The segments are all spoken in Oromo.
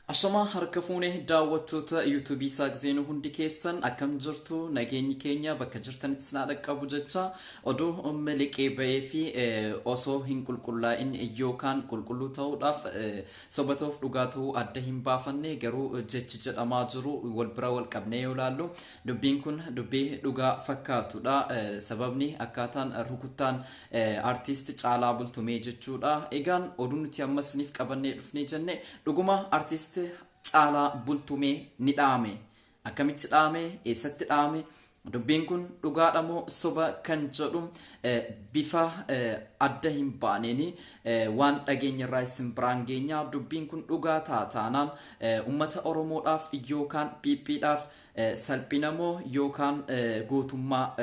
Ashamaa harka fuune daawwattoota yuutuubii Isaaq Zeenuu hundi keessan akkam jirtu nageenyi keenya bakka jirtanitti isin haa dhaqqabu jecha oduu miliqee ba'ee fi osoo hin qulqullaa'in yookaan qulqulluu ta'uudhaaf soba ta'uuf dhugaa ta'uu adda hin baafanne garuu jechi jedhamaa jiru wal bira wal qabnee yoo ilaallu dubbiin kun dubbii dhugaa fakkaatudha sababni akkaataan rukuttaan Artist Caalaa Bultumee jechuudha. Egaan oduu nuti amma isiniif qabannee dhufnee jenne dhuguma artist Caalaa Bultumee ni dhaame. Akkamitti dhaame? Eessatti dhaame? Dubbiin kun dhugaadha moo soba kan jedhu bifa adda hin baaneen waan dhageenya irraa isin biraan geenya. Dubbiin kun dhugaa ta'a taanaan uummata Oromoodhaaf yookaan phiiphiidhaaf Salphinamoo yookaan gootummaa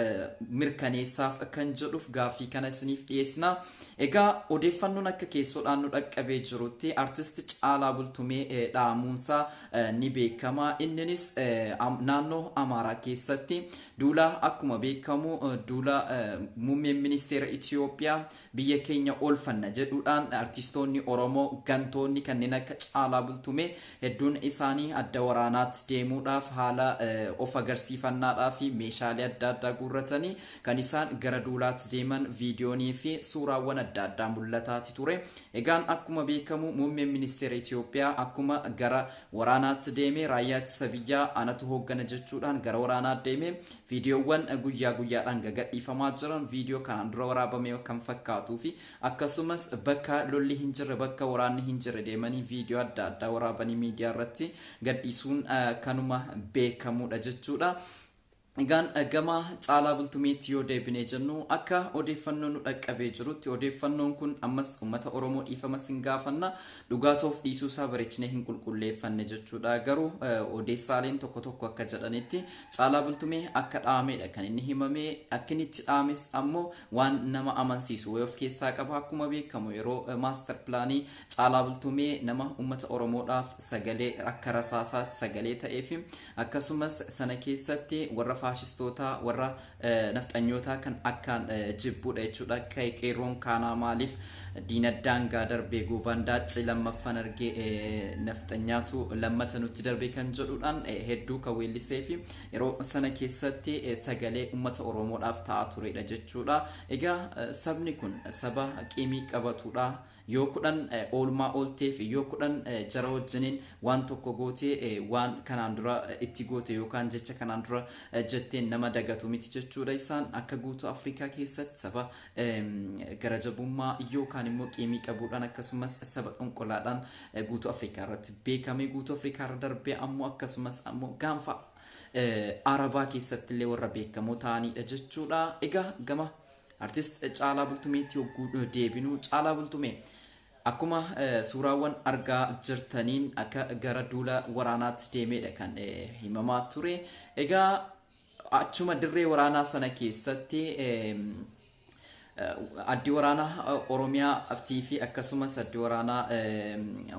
mirkaneessaaf kan jedhuuf gaaffii kana isiniif dhiyeessina. Egaa odeeffannoon akka keessoodhaan nu dhaqqabee jirutti artisti Caalaa Bultumee dhahamuunsaa ni beekama. Inninis naannoo Amaaraa keessatti duula akkuma beekamu duula muummeen ministeera Itoophiyaa biyya keenya oolfanna jedhuudhaan artistoonni Oromoo gantoonni kanneen akka Caalaa Bultumee hedduun isaanii adda waraanaatti deemuudhaaf haala of agarsiifannaadhaafi meeshaalee adda addaa guurratanii kan isaan gara duulaatti deeman viidiyooniifi suuraawwan adda addaa mul'ataati ture. Egaan akkuma beekamu Muummeen Ministeera Itoophiyaa akkuma gara waraanaatti deeme raayyaa ittisa biyyaa anatu hooggana jechuudhaan gara waraanaa deeme. Viidiyoowwan guyyaa guyyaadhaan gagadhiifamaa jiran viidiyoo kanaan dura waraabame kan fakkaatuufi akkasumas bakka lolli hin jirre bakka waraanni hin jirre deemanii viidiyoo adda addaa waraabanii miidiyaa irratti gadhiisuun kanuma beekamuudha jechuudha. Egaan gama Caalaa Bultumeetti yoo deebinee jennu akka odeeffannoo nu dhaqqabee jirutti odeeffannoon kun ammas uummata Oromoo dhiifama sin gaafanna Dhugaa toof dhiisuu isaa barechnee hin qulqulleeffanne jechuudha. Garuu odeessaaleen tokko tokko akka jedhanitti Caalaa Bultumee akka dhaameedha kan inni himame. Akka inni itti dhaames ammoo waan nama amansiisu wayii of keessaa qaba. Akkuma beekamu yeroo maastar pilaanii Caalaa Bultumee nama uummata Oromoodhaaf sagalee akka rasaasaatti sagalee ta'ee fi akkasumas sana keessatti warra faashistootaa warra nafxanyootaa kan akkaan jibbuudha jechuudha kay qeerroon kaanaa maaliif diina daangaa darbee goovaan daacci lammaffaan argee nafxanyaatu lammata nutti darbee kan jedhuudhaan hedduu kan weellisee fi yeroo sana keessatti sagalee ummata oromoodhaaf ta'aa tureedha jechuudha egaa sabni kun saba qiimii qabatuudha Yoo kudhan oolmaa oolteef yoo kudhan jara wajjiniin waan tokko goote waan kanaan dura itti goote yookaan jecha kanaan dura jetteen nama dagatu miti jechuudha isaan akka guutuu Afrikaa keessatti saba gara jabummaa yookaan immoo qiimii qabuudhaan akkasumas saba xonqolaadhaan guutuu Afrikaa irratti beekame guutuu Afrikaa irra darbee ammoo akkasumas ammoo gaanfa Arabaa keessatti illee warra beekamoo ta'aniidha jechuudha egaa gama Artist Caalaa Bultumeetti yogguu deebinu, Caalaa Bultumee akkuma suuraawwan argaa jirtaniin akka gara duula waraanaatti deemeedha kan himamaa ture. Egaa achuma dirree waraanaa sana keessatti addi waraanaa Oromiyaa fi akkasumas addi waraanaa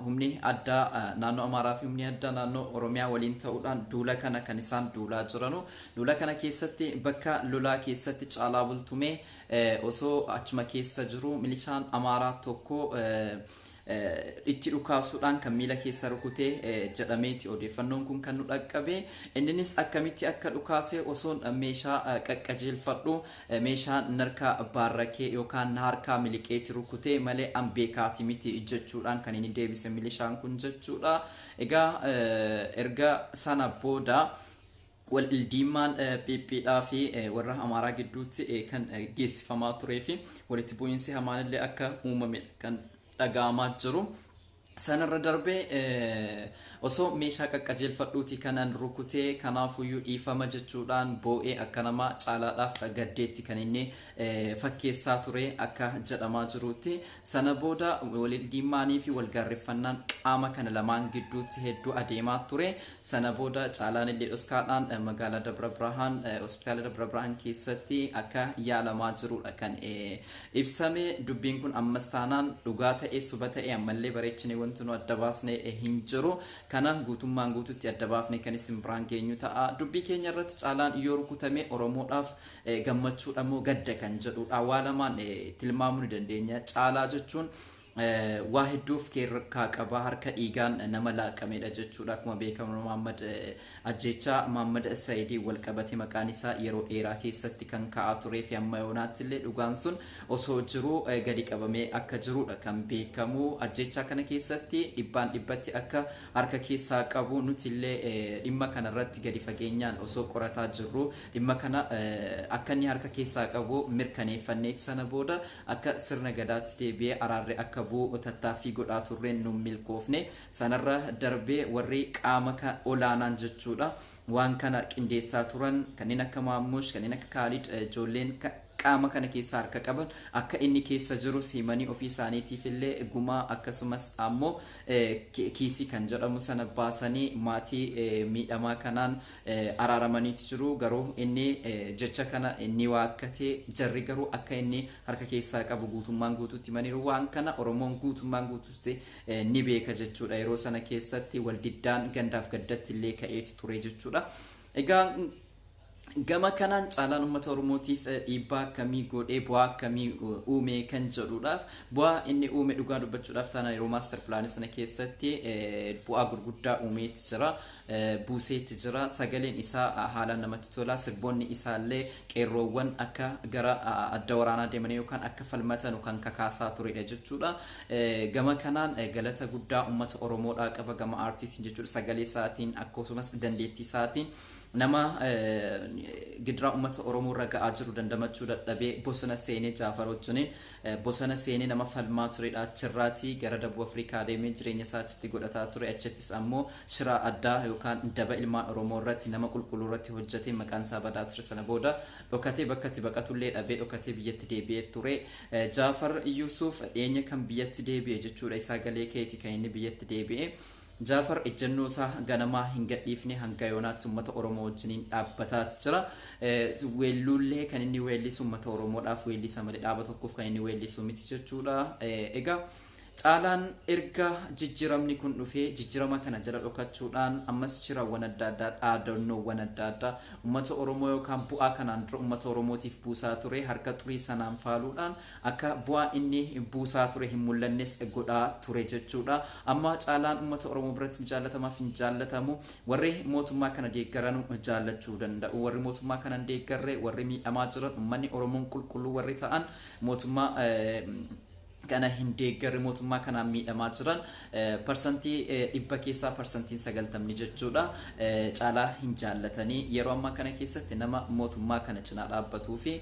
humni addaa naannoo Amaaraa fi humni addaa naannoo Oromiyaa waliin ta'uudhaan duula kana kan isaan duulaa jiranu Lola kana keessatti bakka lolaa keessatti Caalaa Bultumee osoo achuma keessa jiru milishaan Amaaraa tokko itti dhukaasuudhaan kan miila keessa rukute jedhameeti odeeffannoon kun kan nu dhaqqabe. Inninis akkamitti akka dhukaase osoon meeshaa qaqqajeelfadhu meeshaa narkaa baarrakee yookaan na harkaa miliqeeti rukute malee an beekaati miti jechuudhaan kan inni deebise milishaan kun jechuudha. Egaa erga sana booda Waldhiddiimmaan PP dhaa fi warra Amaaraa gidduutti kan geessifamaa turee fi walitti bu'iinsi hamaan illee akka uumame dha kan dhaga'amaa jiru. Sana irra darbee osoo meeshaa qaqqajeelfadhuu ti kanan rukutee, kanaafuyyuu dhiifama jechuu dhaan boo'ee akka namaa caalaadhaaf gaddeetti kan inni fakkeessaa ture akka jedhamaa jiruutti. Sana booda walildiimmaaniifi walgaarreffannaan qaama kana lamaan gidduutti hedduu adeemaa ture. Sana booda Caalaan illee dhoskaadhaan magaalaa Dabra Birhaan hospitaala Dabra Birhaan keessatti akka yaalamaa jiruudha kan ibsame. Dubbiin kun ammas taanaan dhugaa ta'ee suba ta'ee ammallee bareechinee wanti nu adda baasne hin jiru. Kana guutummaan guututti adda baafnee kan isin biraan geenyu ta'a. Dubbii keenya irratti Caalaan yoo rukutamee Oromoodhaaf gammachuudha moo gadda kan jedhuudha. Waa lamaan tilmaamuu ni dandeenya. Caalaa jechuun waa hedduu of keessaa qaba. Harka dhiigaan nama laaqameedha jechuudha. Akkuma beekamu Maammad ajjeechaa Maammad Sayidiin wal qabate maqaan isaa yeroo dheeraa keessatti kan ka'aa turee fi amma yoonaatti illee dhugaan sun osoo jiruu gadi qabamee akka jiruudha kan beekamu. Ajjeechaa kana keessatti dhibbaan dhibbatti akka harka keessaa qabu nuti illee dhimma kanarratti gadi fageenyaan osoo qorataa jirru Dhimma kana akka inni harka keessaa qabu mirkaneeffanneeti sana booda akka sirna Gadaatti deebi'ee araarri akka bu'u tattaaffii godhaa turreen nun milkoofne. Sanarra darbee warri qaama olaanaan jechuudha waan kana qindeessaa turan kanneen akka Maammush, kanneen akka Kaalid ijoolleen qaama kana keessa harka qaban akka inni keessa jirus himanii ofii isaaniitiifillee gumaa akkasumas ammoo kiisii kan jedhamu sana baasanii maatii miidhamaa kanaan araaramaniiti jiru, garuu inni jecha kana ni waakkate, jarri garuu akka inni harka keessaa qabu guutummaan guutuutti himaniiru. Waan kana Oromoon guutummaan guutuutti ni beeka jechuudha. Yeroo sana keessatti waldiddaan gandaaf gaddatti illee ka'eeti ture jechuudha. Egaa gama kanaan caalaan uummata Oromootiif dhiibbaa akkamii godhee bu'aa akkamii uume kan jedhuudhaaf bu'aa inni uume dhugaa dubbachuudhaaf taanaan yeroo maaster pilaanii sana keessatti bu'aa gurguddaa uumeetti jira. buuseetti jira. Sagaleen isaa haalaan namatti tola. Sirboonni isaallee qeerroowwan akka gara adda waraanaa deemanii yookaan akka falmatanu kan kakaasaa turedha jechuudha. Gama kanaan galata guddaa uummata Oromoodhaa qaba gama aartiitiin jechuudha. Sagalee isaatiin akkasumas dandeettii isaatiin nama gidiraa uummata Oromoo irra ga'aa jiru dandamachuu dadhabee bosona seenee Jaafar wajjiniin Bosana seenee nama falmaa turedha. Achirraatii gara Dabub Afrikaa deemee jireenya isaa achitti godhataa ture. Achittis ammoo shiraa addaa yookaan daba ilmaan Oromoo irratti, nama qulqulluu irratti hojjatee maqaan isaa badaa ture. Sana booda dhokatee bakka itti baqatullee dhabee dhokatee biyyatti deebi'ee ture. Jaafar Yusuuf dhiyeenya kan biyyatti deebi'e jechuudha. Isaa galee keeti kan inni biyyatti deebi'e. Jaafar ejjennoo isaa ganamaa hin gadhiifne hanga yoonaatti ummata Oromoo wajjiniin dhaabbataat jira. Weelluullee kan inni weellisu ummata Oromoodhaaf weellisa malee dhaaba tokkoof kan inni weellisu miti jechuudha. Egaa Caalaan erga jijjiramni kun dhufee jijjirama kana jala dhokachuudhaan ammas shirawwan adda addaa dhaadannoowwan adda addaa ummata Oromoo yookaan bu'aa kanaan dura ummata Oromootiif buusaa ture harka xurii sanaan faaluudhaan Akka bu'aa inni buusaa ture hin mul'annes godhaa ture jechuudha. Amma caalaan uummata Oromoo biratti ni jaallatamaaf hin jaallatamu. Warri mootummaa kana deeggaranu jaallachuu danda'u. Warri mootummaa kana hin deeggarre, warri miidhamaa jiran, uummanni Oromoon qulqulluu warri ta'an mootummaa kana hin deeggarre, mootummaa kanaan miidhamaa jiran parsantii dhibba keessaa parsantiin sagaltamni jechuudha caalaa hin jaallatanii. Yeroo ammaa kana keessatti nama mootummaa kana cinaa dhaabbatuu fi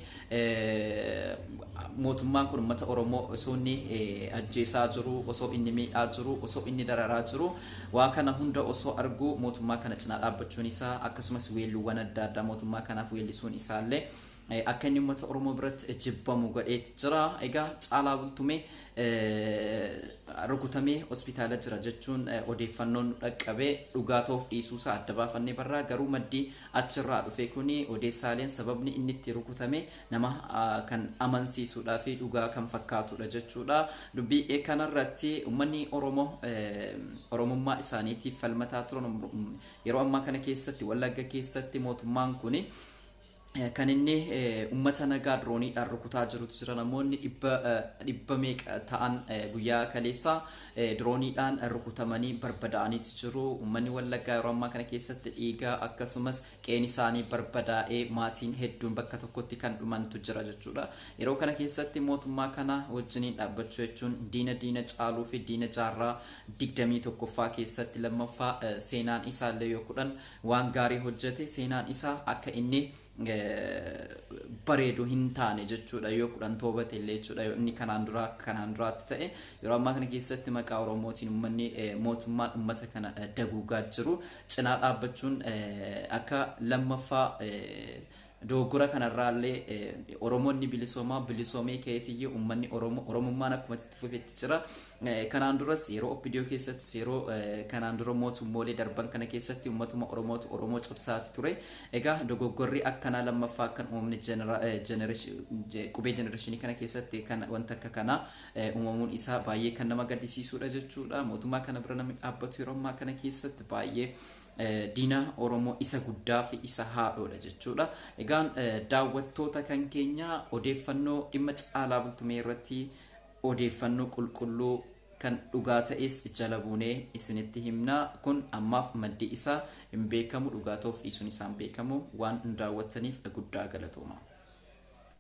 Mootummaan kun ummata Oromoo osoo inni ajjeesaa jiruu, osoo inni miidhaa jiruu, osoo inni dararaa jiruu waa kana hunda osoo arguu mootummaa kana cinaa dhaabbachuun isaa akkasumas weelluuwwan adda addaa mootummaa kanaaf weellisuun isaa illee akka inni ummata Oromoo biratti jibbamu godheet jira. Egaa Caalaa Bultumee rukutamee hospitaala jira jechuun odeeffannoon nu dhaqqabe dhugaa ta'uuf dhiisuu isaa adda baafannee barraa garuu maddi achirraa dhufe kuni odeessaaleen sababni inni itti rukutame nama kan amansiisuudhaa fi dhugaa kan fakkaatudha jechuudha. Dubbii kanarratti uummanni Oromoo Oromummaa isaaniitiif falmataa turan yeroo ammaa kana keessatti Wallagga keessatti mootummaan kuni kan inni uummata nagaa dirooniidhaan rukutaa jirutu jira namoonni dhibba meeqa ta'an guyyaa kaleessaa Dirooniidhaan rukutamanii barbadaa'aniiti jiru. Ummanni Wallaggaa yeroo ammaa kana keessatti dhiigaa akkasumas qe'een isaanii barbadaa'ee maatiin hedduun bakka tokkotti kan dhumantu jira jechuudha. Yeroo kana keessatti mootummaa kana wajjiniin dhaabbachuu jechuun diina diina caaluu fi diina jaarraa 21ffaa keessatti lammaffaa seenaan isaallee yoo kudhan waan gaarii hojjete seenaan isaa akka inni bareedu hin taane jechuudha yoo kudhan toobate illee jechuudha yoo inni kanaan duraa akka kanaan duraatti ta'e yeroo ammaa kana keessatti maqaa oromootiin ummanni eh, mootummaan ummata kana eh, daguugaa jiru cinaa dhaabbachuun eh, akka lammaffaa eh, dogoggora kanarraallee eh, oromoonni bilisoomaa bilisoomee keetiyyuu ummanni Oromo- oromummaan akkuma itti fufetti jira Eh, kanaan duras yeroo oppidiyoo keessattis yeroo eh, kanaan dura mootummoolee darban kana keessatti ummatuma oromootu oromoo cabsaati ture Egaa dogoggorri akkanaa lammaffaa kan uumamni qubee jenereeshinii kana keessatti kan wanti akka kanaa uumamuun isaa baay'ee kan nama gaddisiisuudha jechuudha. Mootummaa kana bira namni dhaabbatu yeroo ammaa kana keessatti baay'ee diina Oromoo isa guddaa fi isa haadhoodha jechuudha. Egaan daawwattoota kan keenya odeeffannoo dhimma caalaa bultumee irratti odeeffannoo qulqulluu Kan dhugaa ta'es jala buunee isinitti himna. Kun ammaaf maddi isaa hin beekamu, dhugaa ta'uuf dhiisuun isaa hin beekamu. Waan nu daawwattaniif guddaa galatoomaa.